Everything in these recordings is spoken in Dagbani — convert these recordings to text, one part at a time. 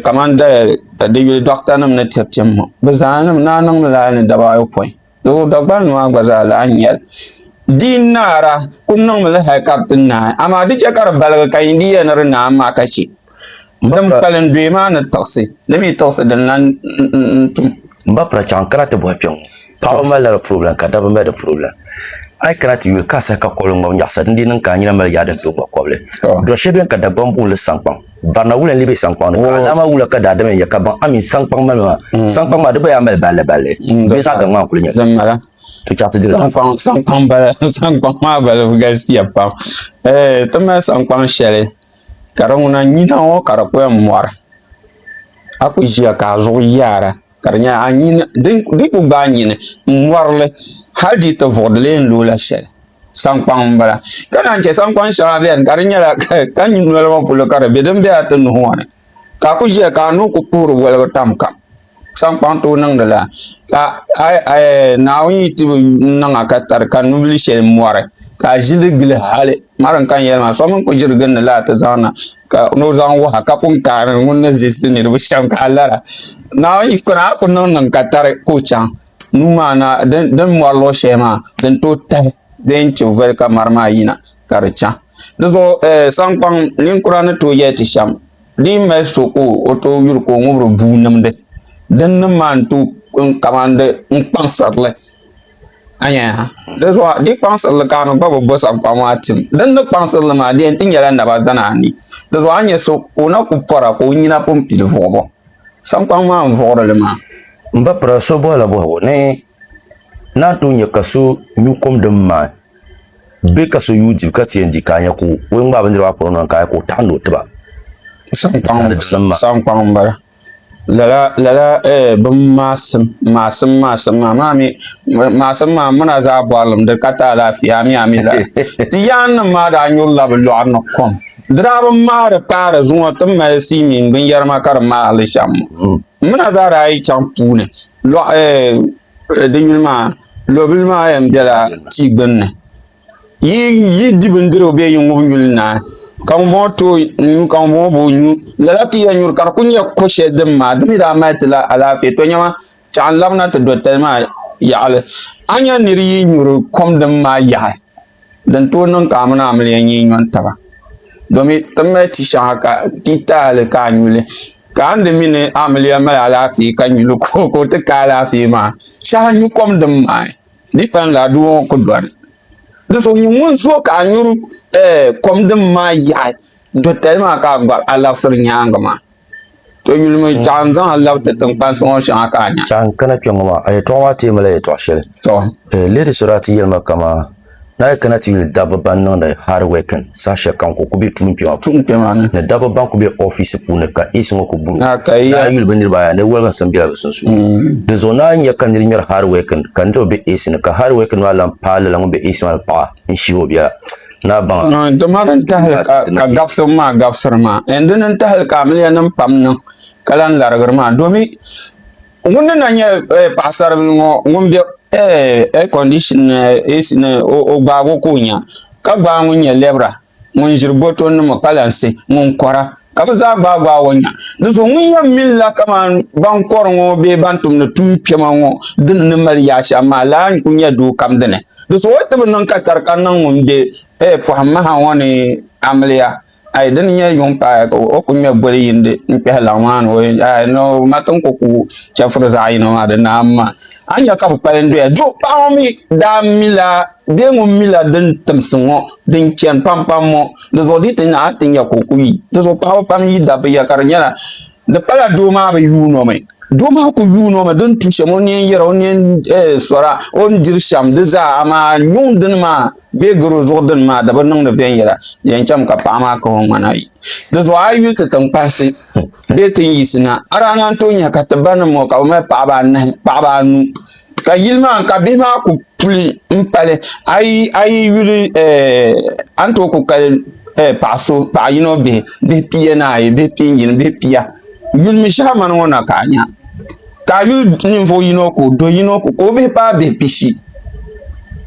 kamani doɣata nim ni tiri tim ŋɔ bi zaa naa niŋla ni daba ayopoin doo Dagbani maa gba zaa lahi nyɛli di naara ku niŋmi li hali ka bi ti naai amaa di chɛ ka di baligi ka yi diiya ni di naai maa ka chɛ din kpalim doya maa ni tiɣisi di mii tiɣisi din lahi tum N ba pira chaŋ kana ti bɔhi kpɛŋŋɔ. Paɣaba mali la di problem ka dabba mali di problem. A yi kana ti yuli ka a sahi ka kɔbili ŋmabi nyaɣisa din dii niŋ ka a nyina mali yaadi n tooi ŋma kɔbili. Dɔɣi shɛli beni ka Dagbaŋ booni li saŋkpaŋ. Barina wula n lee be saŋkpaŋ ni ka a daa mali wula ka daadama n yɛli ka baŋ amin saŋkpaŋ malimi maa. Saŋkpaŋ maa di gba yaa mali balli balli bee zaɣ gaŋ maa n kuli nyɛli. Din mala. To chaŋ ti dila. Saŋkpaŋ saŋkpaŋ bala saŋkpaŋ maa balibu galisiya pam. Ti mali saŋkpaŋ shɛli. ka di ŋuna nyina ŋɔ ka di kuyani mɔri a kuli ʒiya ka a zuɣu yaara ka di nyɛla a nyini din kuli gbaai a nyini n mɔrili hali dii ti vuɣi di lee ni loola shɛli sankpaŋ n bala ka naan chɛ sankpaŋ shɛŋa bɛni ka di nyɛla ka noli ŋɔ polo ka di bɛ din bɛ a ti nuhi ŋɔ ni ka a kuli ʒiya ka a nuu kuli puhiri woligu tam kam sankpaŋ tooi niŋdi la ka Naawuni yi ti bi niŋa ka tari ka nubili shɛli mɔri ka a ʒili gili hali ŋmarim ka n yɛli maa so mini kuli ʒiri gindi la ti zaŋ na ka ni o zaŋ wuha ka pun kaari ni ŋuni ni zilisi niriba shɛm ka a lara Naawuni yi kuni a ku niŋ niŋ ka tari ka o chaŋ nuu maa na din mɔri luɣ shɛli maa din tooi tahi bee n chibi voli ka mɔri maa yina ka di chaŋ di zuɣu sankpaŋ ninkura ni tooi yɛli ti shɛm Di mali so ka o tooi yuri ka o ŋubiri bua nimdi din nim maa n tooi kamani di kpaŋsirili a nya ha dinzuɣu di kpaŋsirili ka a ni gba bi bo saŋkpani maa tim din ni kpaŋsirili maa di yɛn ti nyɛla naba zani ani dinzuɣu a ni nyɛ so ka o na ku pora ka o nyina pun pili vuɣubu saŋkpaŋ maa n vuɣuri li maa M ba pira so bɔhila bɔhigu ni naan tooi nya ka so nyu kom din maai bɛ ka so yuui dibu ka ti yɛn di ka a nya ka o yɛn ŋmaai bindira maa pɔri noli ka a nya ka o taɣi ni o tiba saŋkpaŋ n bala lala lala eh, bin maasim maasim maasim maa maa mi maasim maa muna zaa bɔrilim di ka ta alaafia mi ami la ti yaan nim maa daa nyurila bi lɔɣu ni kom dira bi mahari paari zuŋɔ ti mali sii mini binyɛri ma ka di maali shɛm muna zaa daa yi chaŋ puuni lɔɣu eh, eh, di yuli maa Lobili maa yɛn bela tia gbunni. Yi yi di bindirigu bee yi ŋub nyuli naai, ka ŋumbɔŋɔ ti o nuu ka ŋumbɔŋɔ bi o nuu, lala ka i yɛn nyuri ka di kul nyɛ ko shɛli din maa di mi daa mali ti la alaafee. Tɔnyama, chaɣ n labina ti dɔtali maa yaɣili. A nya nir yi nyuri kom din maa yaɣi. Din tooi niŋ ka amina amiliya nyɛ nyo n taba domi ti ni mali ti shɛŋa ka ti taali ka a nyuli ka a ni di mi ni amiliya mali alaafee ka nyuli ka o ti ka alaafee maa shɛhi n nyu kom din maai di yi pain laa doo ŋɔ ku dɔni di zuɣu nyini ŋun zo ka a nyuri kom din maai yaɣi dotali maa ka a gba alaɣisiri nyaanga maa To yulimi chaɣa n zaŋ labi ti tiŋkpansi ŋɔ shɛŋa ka a nya. Chaɣa n kana kpɛŋŋɔ maa a yɛtɔɣa maa teemi la yɛtɔɣa shɛli. To. Eh, leei ti sɔri a ti yɛlima kamaa ni a yi kana ti yuli dabba ban niŋdi hard working saha shɛli kam ka o ku be tuun kpɛma Tuun kpɛma ni. ni dabba ban ku be ofiisi puuni ka ace ŋɔ ku buri o Ah, ka iya. ni a yuli bɛ niriba ayi a ni Wilkinson bela bɛ sunsuuni. Di zuɣu ni a nya ka niri ŋmɛri hard working ka niriba be ace ni ka hard working maa lan paai lala ŋun be ace maa ni paɣa n-shihi o biɛla. Tuma din tahali ka gabsim maa gabsiri maa n dini n tahali ka amiliya nim pam niŋ ka lahi larigiri maa domi ŋun ni na nyɛ paɣasaribili ŋo ŋun bɛ ɛɛ kondishin ni ɛc ni o gbaagi o ka o nya ka gbaai ŋun nyɛ lɛbira ŋun ʒiri boto nima kpalansi ŋun kora ka bɛ zaa gbaai gbaai o nya. Di zuɣu ŋun yɛn minila kaman ban kɔri ŋɔ bee ban tumdi tuun kpɛma ŋɔ dini ni mali yaɣ shɛm maa laa n-ku nya doo kam dini. Di zuɣu o ti bi niŋ ka tari ka niŋ ŋun be eh, pɔhim maha ŋɔ ni amiliya. Ai dini nyɛ yuŋ paai ka o ku ŋme boli yindi n-kpɛhi laɣ maa ni o yɛn nya. Ai no, ma ti ni ku ku chɛfuri zaɣ yino maa di naai m-ma. A ni nya ka bɛ kpali n-doya. Duh paɣ ŋɔ mi daa mila bee ŋun mila din timsi ŋɔ din chani pampam ŋɔ. di zuɣu di ti naai ti nya ka o ku yi di zuɣu paɣaba pam yi dabba ya ka di nyɛla di pala doo maa bi yuuno mi doo maa ku yuuno mi din tu shɛm o neen yɛra o neen eh, sɔra o ni diri shɛm di zaa amaa yuŋ dini maa bee garo zuɣu dini maa di bi niŋdi viɛnyɛla yɛn chɛm ka paɣa maa kahi o ŋmana yi di zuɣu a yi ti tiŋ kpahisi bee tin yisi na a daa naan tooi nya ka ti ba ni ŋɔ ka bi mali paɣaba anahi paɣaba anu ka yili maa ka bihi maa ku puli n pali a yi yuli eh, a ni tooi ku kali eh, paɣa so paɣa yino bihi bihi pia ni ayi bihi pia yini bihi pia yuli mi shɛha mani ŋɔ na ka a nya ka a yuli ninvuɣu yino ko do yino ko ka o bihi paai bihi pishi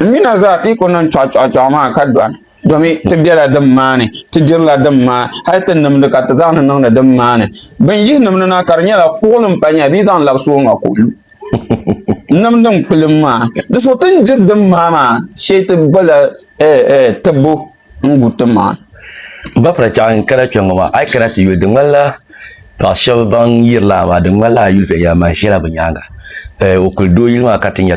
n mina zaa ti ku niŋ chɔɣu chɔɣu chɔɣu maa ka dɔni domi ti bela din maani ti dirila din maa hali ti nimdi ka ti zaŋdi niŋdi din maani bin yihi nimdi na ka di nyɛla fuɣilim pa nyɛla bee zaŋ labi suuŋa ko nimdi n kpilim maa di so ti ni diri din maa maa shee ti gbala eh, eh, tibbu n gu ti maa ba fara chɛɣa n kana kpɛ ŋɔ maa a yi kana ti yuli di ŋmanila paɣa shɛba ban yirila a maa di ŋmanila a yuli viɛnyɛla maa ʒɛla bi nyaanga eh, o kuli doo yili maa ka ti nya